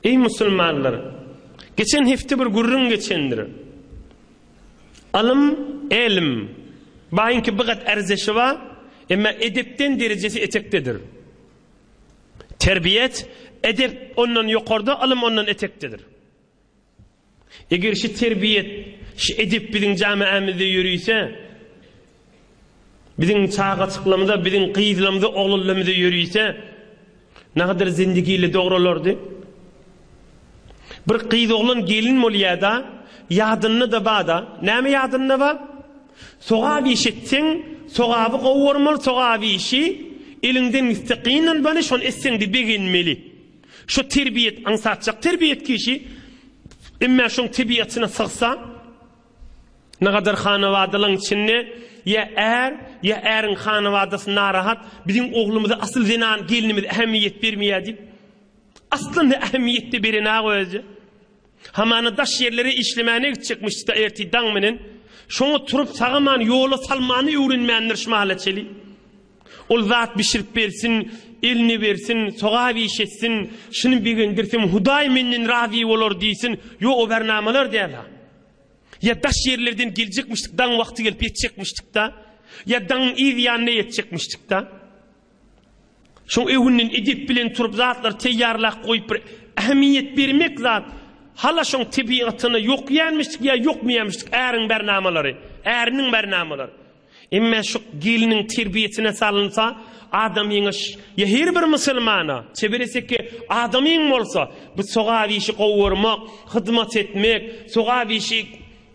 Eý musulmanlar! Geçen hepde bir gürrüň geçendir. Alym, älim, baýyňky bigat arzeşi bar, emma edepden derejesi etekdedir. Terbiýet, edep ondan ýokarda, alym ondan etekdedir. Eger şi terbiýet, şi edep biziň jamaämizde ýörüse, biziň çagajyklarymyza, biziň gyzlarymyza, oglanlarymyza ýörüse, nagadyr zindigili dogralardy. Bir gyz-oglan gelin bolýar-da, ýadynda-da bar-da, näme ýadynda bar? Sogap iş etseň, sogaby gowy görmeli, sogap işi eliňden gitse gynanmaly, şony etseň-de begenmeli. Şu terbiýet aňsatjak terbiýet kişi emmä şoň tebiýatyna sygsa, nagadar hanawadalyň içinde ýa är, ýa äriň hanawadasy narahat, biziň oglumyza asyl zenan, gelnimiz ähemiýet bermeýär diýip. Aslynda ähemiýet-de beren-ä özü. Hamana daş ýerlere işlemäne gitjekmişdi-de ertir daň menen, şoňa turup sagaman ýola salmany öwrenmändir şmala çeli. Ol zat bişirip bersin, eline bersin, sogap iş etsin, şuny begendirsem Hudaý menden razy bolar diýsin, ýo o bernamalar däl-ha. Ýa daş ýerlerden geljekmişdik, daň wagty gelip ýetjekmişdik-da, ýa daňyň yz ýanyna ýetjekmişdik-da. Şoň öwünden edep bilen turup zatlar teýýarlap goýup bir ähmiýet bermek zat hala şoň tebigatyna ýokýanmişdik ýa ýokmýanmişdik äriň bärnamalary äriniň bärnamalary emme şu gelniň terbiýesine salynsa adamyňa ýa her bir musulmana çebereseki adamyň bolsa bu sogap işi gowy görmek hyzmat etmek sogap işi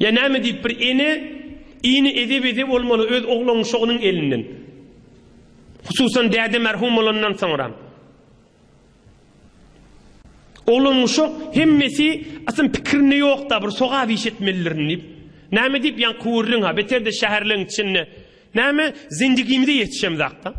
Ýa näme diýip bir ene, ini eze-beze bolmaly öz oglunyň şogynyň elinden. Hususan däde merhum bolandan soňram. Oglunyň şo hemmesi asyn pikirinde ýokda bir sogap iş etmelidirin diýip. Näme diýip ýan kuwurlyň ha beterde şäherleň içinde. Näme zendigimize ýetişemzakda.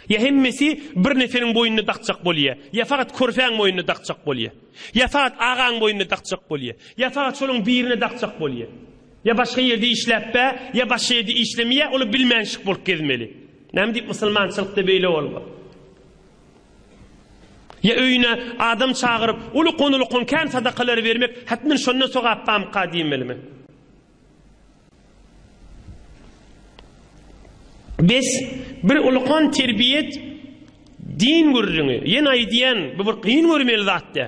Ýa hemmesi bir neseliň boýnuna dakjak bolýar, ýa fakat körpäň boýnuna dakjak bolýar, ýa fakat agaň boýnuna dakjak bolýar, ýa fakat şolaryň birine dakjak bolýar. Ýa başga ýerde işläp bä, ýa başga ýerde işlemeýär, ol-a bilmänşik bolup gezmeli. Näme diýip musulmançylykda beýle bolga? Ýa öýüne adam çagyryp, uly-ulukan kän sadakalary bermek, hatmen şondan sogap bamyka diýmelimi? Bes, bir ulukan terbiýet din gürrüňi. Ýene aýdýan, bu bir kyn görmeli zat dä.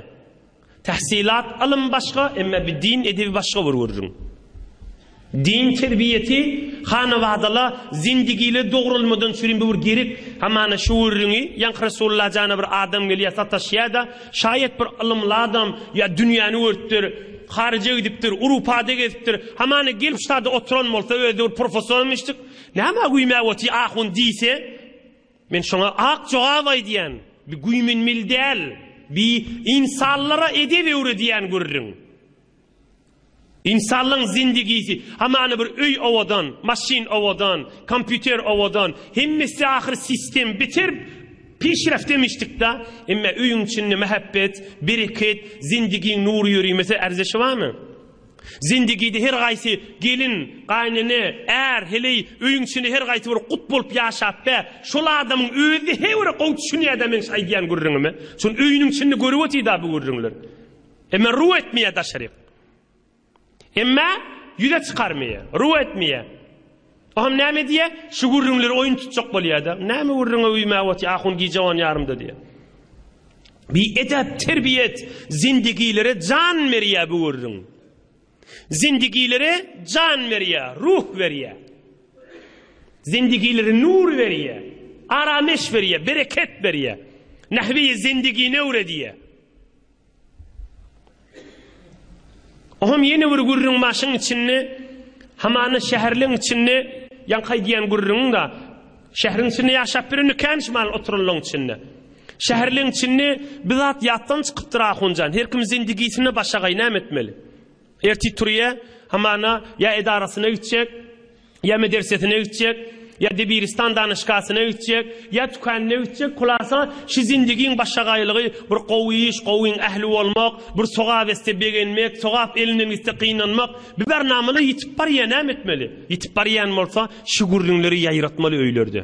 Tahsilat alym başga, emma bir din edebi başga bir gürrüň. Din terbiýeti hanabadala zindigile dogrulmadan sürin bu bir gerek. Hamana şu gürrüňi, ýa Resulullah jana bir adam gelýär, sataşýar-da, Şaýat bir ylymly adam, ýa dünýäni görüpdir, haryja gidipdir, Urupada gezipdir, hamana gelip şu sada oturan bolsa, özi bir professoram eşitdik, Nämä güýmäp otyr ahun diýse, men şoňa ak jogap aýdýan, Bi güýmenmeli däl, bi ynsanlara edep öwredýän gürrüň. Ynsanlygyň zindigisi, hamany bir öý owadan, maşyn owadan, kompýuter owadan, hemmesi ahyry sistem biter pişreft demişdikda, emme öýüň içinde mähebbet, bereket, zindigiň nury ýörimese erzeşi barmy? Zindigide her gaýsy gelin, gaýynene, är, heleý öýüň içinde her gaýsy bir gut bolup ýaşap be, şol adamyň özi-hä bir gowy düşünýärda meň şu aýdýan gürrüňime. Şuny öýüniň içinde görüp otyrda bu gürrüňler. Emma ruw etmeýär daşaryk. Emma ýüze çykarmaýar, ruw etmeýär. O hem näme diýýär? Şu gürrüňleri oýun tutjak bolýar-da. Näme gürrüňe üýmäp otyr, ahun gije on ýarymda diýýär. Bi edep, terbiýet zindigilere jan berýär bu gürrüň. Zindigilere jan berýär, ruh berýär. Zindigilere nur berýär, arameş berýär, bereket berýär. Nahwi zindigini öwredýär. Oňam ýene bir gürrüň başyň içinde, hamana şäherliň içinde ýaňkaý diýen gürrüňiň-de, şäheriň içinde ýaşap ýören ekän şumal oturanlaň içinde. Şäherliň içinde bir zat ýatdan çykypdyr ahunjan, her kim zindigisine başagaý näme etmeli? Ertir turýa, hamana, ýa edarasyna gitjek, ýa medersesine gitjek, ýa debiristan danyşgasyna gitjek, ýa tükanyna gitjek, hulasa, şu zindigiň başagaýlygy bir gowy iş, gowyň ähli bolmak, bir sogap etse begenmek, sogap elinden gitse gynanmak, biber namala ýitip barýa näme etmeli? Ýitip barýan bolsa, şu gürrüňleri ýaýratmaly öýlerde.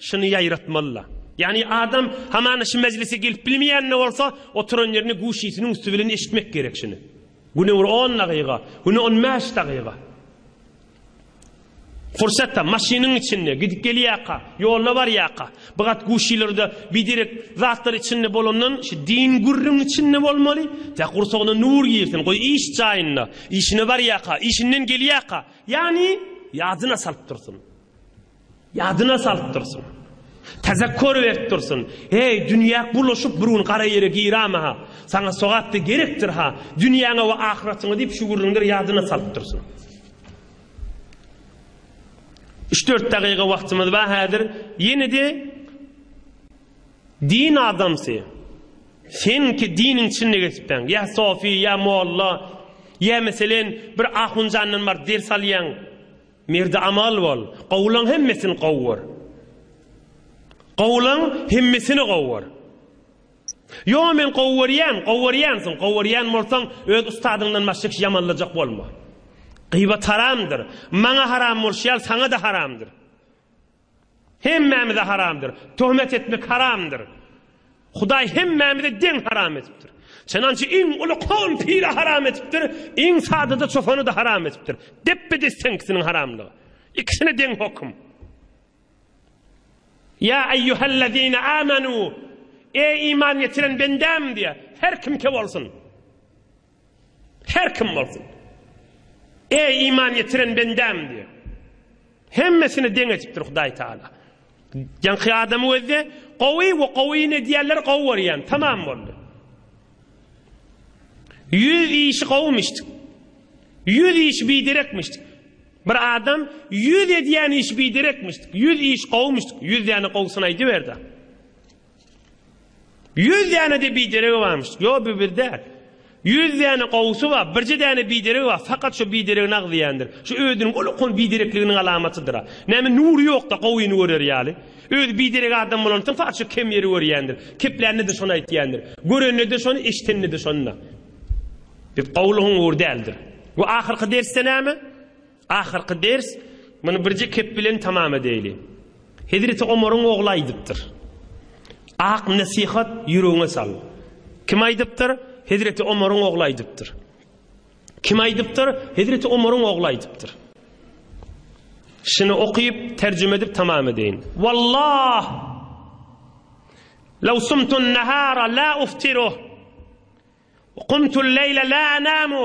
Şuny ýaýratmaly-la. Ýagny adam hamana şu mejlise gelip bilmeýän-de bolsa, oturan ýerini guşysynyň üsti bilen eşitmek gerek şuny. Güne bir on dagyga, güne on bäş dagyga. Pursatda, maşynyň içinde, gidip gelýärka, ýolda barýarka, bir gat guşylarda biderek zatlar içinde bolandan, şu din gürrüň içinde bolmaly, tä gursagyna nur girsin, goý iş jaýynda, işine barýarka, işinden gelýärka, ýagny ýadyna salyp dursun. Ýadyna salyp dursun. Tezekkür berip dursun. Heý, dünýäk bulaşyp bir gün gara ýere girama-ha. Saňa sogap-da gerekdir-ha. Dünýäňe we ahyratyňa diýip şu gürrüňleri ýadyna salyp dursun. Üç-dört dagyga wagtymyz bar häzir. Ýene-de din adamsy. Sen ki diniň içinde geçipdiň. Ýa sofi, ýa molla, ýa meselen bir ahunjandan bar ders alýaň. Merde amal bol, gowulaň hemmesini gowy gör. Gowulaň hemmesini gowy gör. Ýo men gowy görýän, gowy görýänsiň, gowy görýän bolsaň öz ustadyňdan başga kişi ýamanlajak bolma. Gyýbat haramdyr. Maňa haram bolşy ýaly saňa-da haramdyr. Hemmämize haramdyr. Töhmet etmek haramdyr. Hudaý hemmämize deň haram edipdir. Çenança iň uly kowum pile haram edipdir, iň sadada çopany-da haram edipdir. Depbe-dis seňkisiniň haramlygy. Ikisine deň hokum. Ýa eýýuhellezine amenu, eý iman getiren bendäm diýýär. Her kimke bolsun. Her kim bolsun. Eý, iman getiren bendäm! diýip, hemmesini deň etipdir Hudaý Tagala. Ýaňky adamy gözle, gowy we gowy ne diýerler, gowy görýän. Tamam boldy. Ýüz işi gowymyşdy. Ýüz iş biderekmişdi. Bir adam ýüz edýän iş biderekmişdi. Ýüz iş gowymyşdy. Ýüz ýany gowusyny aýdyberdi. Ýüz däne-de bideregi barmyş. Ýok, bu bir däl. Ýüz däne gowusy bar, birje däne bideregi bar, fakat şo bideregini agzýandyr. Şu özüniň ol okan biderekliginiň alamatydyr-a. Näme nury ýok-da gowyny görer ýaly. Özi biderek adam bolansoň fakat şo kem ýeri görýändir. Keplände-de şony aýtýandyr. Görende-de şony, eşidende-de şony-da. Biz gowulygyň ury däldir. Bu ahyrky dersde näme? Ahyrky ders, muny birje kep bilen tamam edeýli. Hezreti Omaryň ogly aýdypdyr. Ak nesihat ýüregiňe sal. Kim aýdypdyr? Hezreti Omaryň ogly aýdypdyr. Kim aýdypdyr? Hezreti Omaryň ogly aýdypdyr. Şuny okyp, terjime edip tamam edeýin. Wallah! Law sumtun nahara la uftiru. Qumtul leýle la anamu.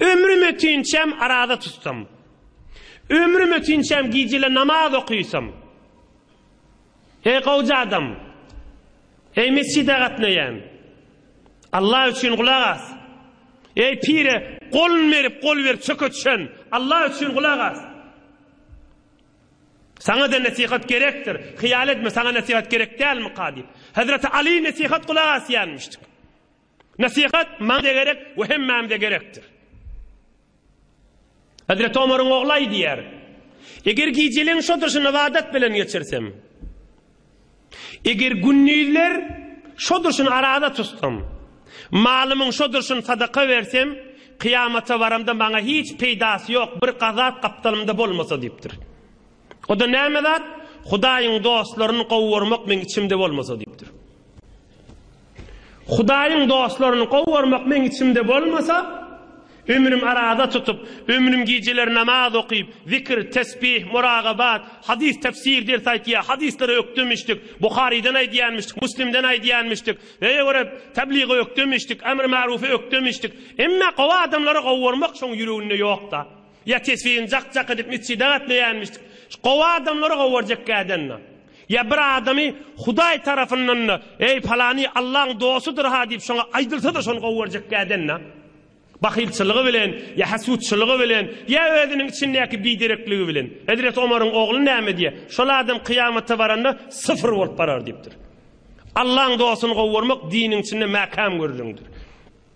Ömrüm ötinçäm araza tutsam. Ömrüm ötinçäm gijele namaz okysam. Eý gowja adam. Eý mesjide gatnaýan. Allah üçin gulak as. Eý pire golun berip gol berip çöke düşen. Allah üçin gulak as. Saňa da nesihat gerekdir. Hyýal etme saňa nesihat gerek dälmika diýip. Hezreti Ali nesihat gulak asýanmyşdyk. Nesihat maňa-da gerek we hemmämize gerekdir. Hezreti Omaryň ogly aýdýar, Eger gijeleň şodyşyny ybadat bilen geçirsem, eger gündizler şodyşyny araza tutsam, malymyň şodyşyny sadaka bersem, kyýamata baramda maňa hiç peýdasy ýok, bir gazap gapdalymda bolmasa diýipdir. O-da näme zat? Hudaýyň dostlaryny gowy görmek meň içimde bolmasa diýipdir. Hudaýyň dostlaryny gowarmak meň içimde bolmasa, ömrüm araza tutup, ömrüm gijeler namaz okyp, zikr, tesbih, muragabat, hadys tefsir ders aýtýa, hadyslary ökdemişdik, Buharydan aýdýanmyşdyk, Muslimden aýdýanmyşdyk, öýe görip, tebligy ökdemişdik, emr-marufy ökdemişdik. Emma gowy adamlary gowarmak şoň ýüreginde ýokda. Ýa tesbihini jak-jak edip metjide gatnaýanmyşdyk. Şu gowy adamlary gowy görjek kädända. Ýa bir adamy Hudaý tarapyndan-da, Eý, palany Allaň dostudyr-ha diýip şoňa aýdylsa-da şony gowy görjek kädända. Bahylçylygy bilen, ýa hesutçylygy bilen, ýa özüniň içindäki biderekligi bilen. Hezreti Omaryň ogly näme diýýär? Şol adam kyýamata baranda syfyr bolup barar diýipdir. Allaň dostuny gowy görmek diniň içinde mäkäm gürrüňdir.